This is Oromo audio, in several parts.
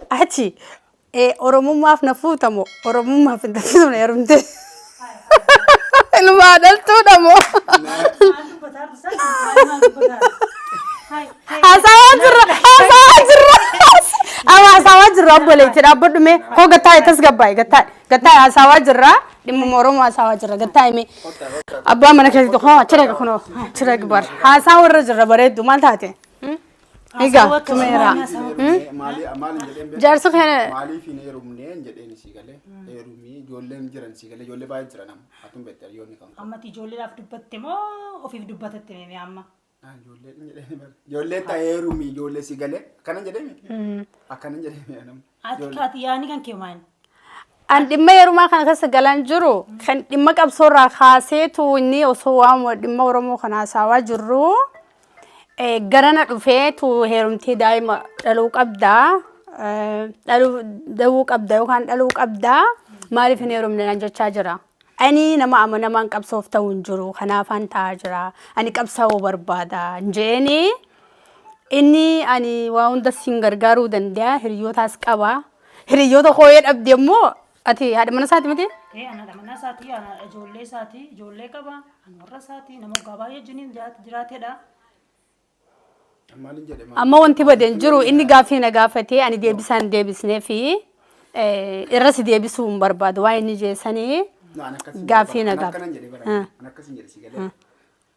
Achi ee oromummaaf na fuuta moo oromummaaf hin taasisu na yarumte. Ilmaa dhaltuudha moo. Haasawaa jirra haasawaa jirra. Ama haasawaa jirra obboleetti dhaabbadhu mee koo gattaa'e tasgabbaa'e gattaa'e gattaa'e haasawaa jirra dhimma oromoo haasawaa jirra gattaa'e mee. Abbaa mana keessatti koo achirra kunoo achirra bar haasawaa irra jirra bareeddu maal taate. Egaa Haasawaa akkasii tumeera. waan haasawaa Maalii- maalii- maaliin jedheen beeku? Jaarsi kana Maaliif hin heerumne hin jedheen sii galee heerumii ijoolleen jiran sii galee ijoollee baay'ee jiran amma atum beektaa yoo ni kan ammati ijoolleedhaaf dubbatte moo ofiif dubbatatte mee amma ijoollee hin jedheen bara ijoollee ta'ee heerumii ijoollee sii galee akkana jedheen akkana jedheen nama Ati kaati yaani kan kee maali? An dhimma heerumaa kana keessa galaan jiru kan dhimma qabsoorraa kaaseetu inni osoo waan dhimma Oromoo kana haasawaa jirru eh, garana dhufeetu heerumtee daa'ima dhaluu qabda eh, dhaluu da'uu qabda yookaan dhaluu qabda maaliif hin heerumne naan jechaa jira. Ani nama amanamaan qabsoof ta'u hin jiru kanaafaan ta'aa jira ani qabsaa'uu barbaada hin jeeni. Inni ani waa hunda siin gargaaruu danda'a hiriyootaas qaba. Hiriyoota kooyee dhabde immoo ati haadha mana isaati miti? Ee ana dhamanaa isaatii ana ijoollee isaatii ijoollee qaba ana warra isaatii nama waggaa baay'ee jiniin jiraatedha. Maalin jedhe maal? Amma wanti bade hin jiru inni gaaffii na gaafatee ani deebisaa hin deebisnee fi eh, irras deebisuu hin barbaadu waa inni jeessanii Naan akkasii Gaaffii jedhe bara. nagaa. Naan akkanan jedhe bara. Ah. Naan akkasii jedhe si galee.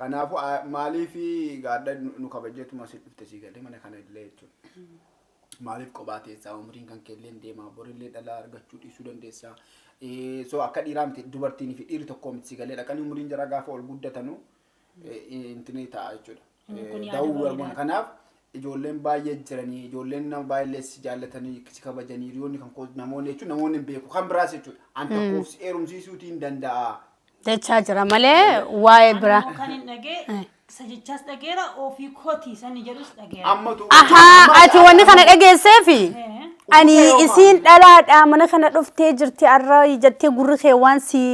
Kanaafu maaliif gaadha nu kabajjeetuma asi dhufte sii galee mana kana illee jechuun maaliif qophaa teessaa umriin kan keelleen deemaa borillee dhalaa argachuu dhiisuu dandeessaa so akka dhiiraa miti dubartiin fi dhiirri tokkoo miti sii galee dhaqanii umriin jara gaafa ol guddatanu intini ta'a jechuudha. Da'uu kanaaf ijoolleen baay'ee jiranii ijoolleen nama baay'ee si jaallatanii si kabajanii hiriyoonni kan koo namoonni jechuun namoonni hin beeku kan biraas jechuudha an tokkoof si heerumsiisuutii hin danda'a jechaa jira malee waa'ee Ani biraa. immoo kan hin dhagee Eh. isa jechaas dhageera ofii kooti sani jedhus dhageera. amma tu Ahaa ati wanni kana dhageesseefi Eh, ani isiin dhalaadha mana kana dhuftee jirti arra jettee gurri kee waan si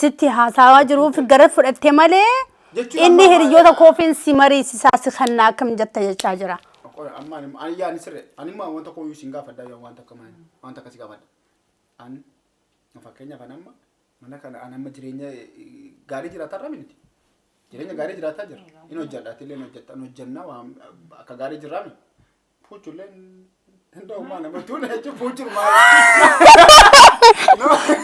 sitti haasawaa jiruuf gara fudhatte malee Jechuun Inni ammaa hiriyyoota maal- koofiin si mariisisaa si kannaa akkam jetta jechaa jira. Qoy amma ani ani yaani sirre ani immoo wanta kooyyuu isin gaafadha yoo wanta akka mana wanta akkasii gaafadha. An fakkeenyaaf an amma mana kana an amma jireenya eh, gaarii jiraataa irra miti. Jireenya gaarii jiraataa jira. Inni hojjedha ati illee hojjetta an hojjennaa waan akka gaarii jirraa miti. Puuchuleen hunda uumaa nama tuula jechuun puuchuun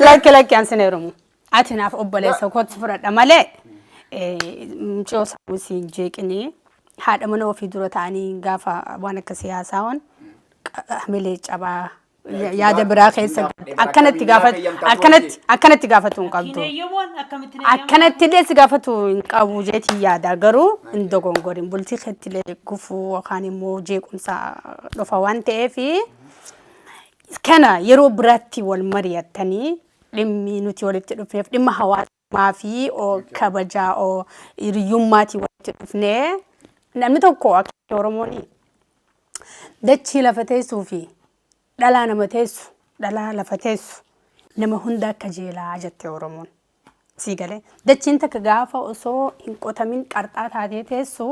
Lakki lakki an sin heerumu. Ati naaf obboleessa kootti fudhadha malee mucoo sammuu siin jeeqinii haadha mana ofii dura ta'anii gaafa waan akka siyaasaa waan hamilee cabaa yaada biraa keessa akkanatti gaafatu akkanatti akkanatti gaafatu hin qabdu. Kineeyyamuun akkamitti neeyyamuun? Akkanatti illee si gaafatu hin qabu jeetii yaada garuu hin dogongorin bultii keetti illee gufuu yookaan immoo jeequmsa dhufa waan ta'eef kana yeroo biraatti wal mari'attanii dhimmi nuti walitti dhufneef dhimma hawaasa maafii oo kabajaa oo hiriyyummaatii walitti dhufnee namni tokko akka Oromoon dachii lafa teessuu fi dhalaa nama teessu dhalaa lafa teessu nama hunda akka jeelaa jette Oromoon. Sii galee dachiin takka gaafa osoo hin qotamin qarxaa taatee teessu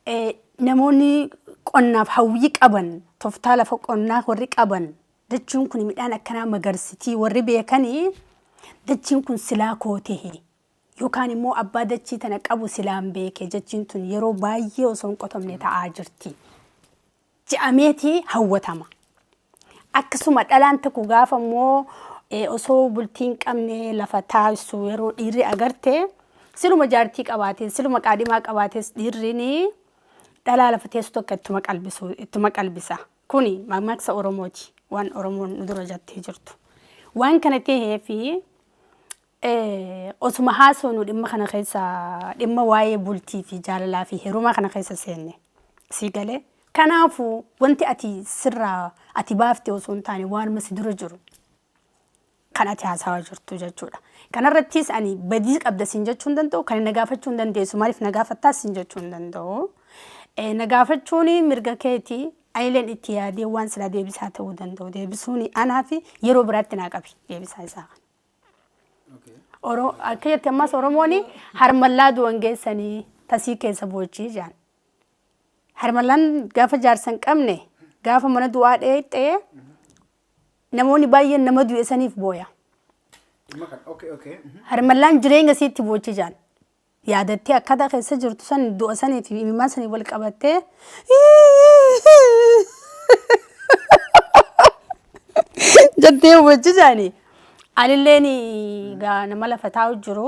eh, namoonni qonnaaf hawwii qaban toftaa lafa qonnaa warri qaban Dachiin kun midhaan akkanaa magarsitii warri beekani dachiin kun silaa koo tehe yookaan immoo abbaa dachii tana qabu silaan beeke jechiin tun yeroo baay'ee osoo hin qotamne ta'aa jirti je'ameeti hawwatama. Akkasuma dhalaan tokko gaafa immoo eh, osoo bultii hin qabne lafa taasisu yeroo dhiirri agarte siluma jaartii qabaatee siluma qaadhimaa qabaates dhiirri ni dhalaa lafa teessu tokko ittuma qalbisu ittuma qalbisa. Kuni mammaksa Oromooti. Waan Oromoon nu dura jattee jirtu. Waan kana ta'eef osuma haasofnu dhimma kana keessa dhimma waa'ee bultii fi jaalalaa fi herumaa kana keessa seenne. Sii galee? Kanaafuu wanti ati sirraa ati baafte osoo hin taane waanuma si dura jiru. kan ati haasawaa jirtu jechuudha. Kanarrattis ani badii qabda siin jechuu hin danda'u, kan na gaafachuu hin dandeessu, maaliif na gaafattaa siin jechuu hin danda'u. Eh, Na gaafachuun mirga keeti, anileen itti yaadee waan silaa deebisaa ta'uu danda'u deebisuun anaa fi yeroo biraatti naa qabi deebisaa isaa kana. Oro- Akka jetti ammas Oromoon harmallaa du'an geessanii tasii keessa boochii jaan. Harmallaan gaafa jaarsa hin qabne gaafa mana du'aa dheexxee Namoonni baay'een nama du'e saniif booya. Dhimma kana. Okay, okay. mhm. Harmallaan jireenya isiitti boochi jaan. Yaadattee akkaataa keessa jirtu san du'a sanii fi imimmaan sanii wal qabattee. Jettee boochi jaani. Anilleen gaa nama lafa taa'u jiru.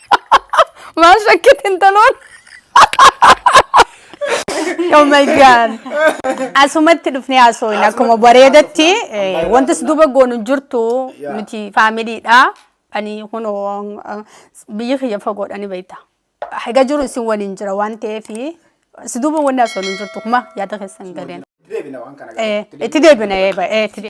Maal shakkite intaloon? Oh my god. Asumatti dhufnee haasooyin akkuma bareedatti eh, wanti si duuba goonu hin jirtu Yeah. nuti faamiliidha. Ani kunoo eh, biyyi kiyya fagoodhani beekta. Haga jiru isin waliin jira waan ta'eef si duuba wanni haasooyin hin jirtu kuma yaada keessan galeen. Deebina waan kana Eh, Itti deebina eh, ba- eh, itti deebina.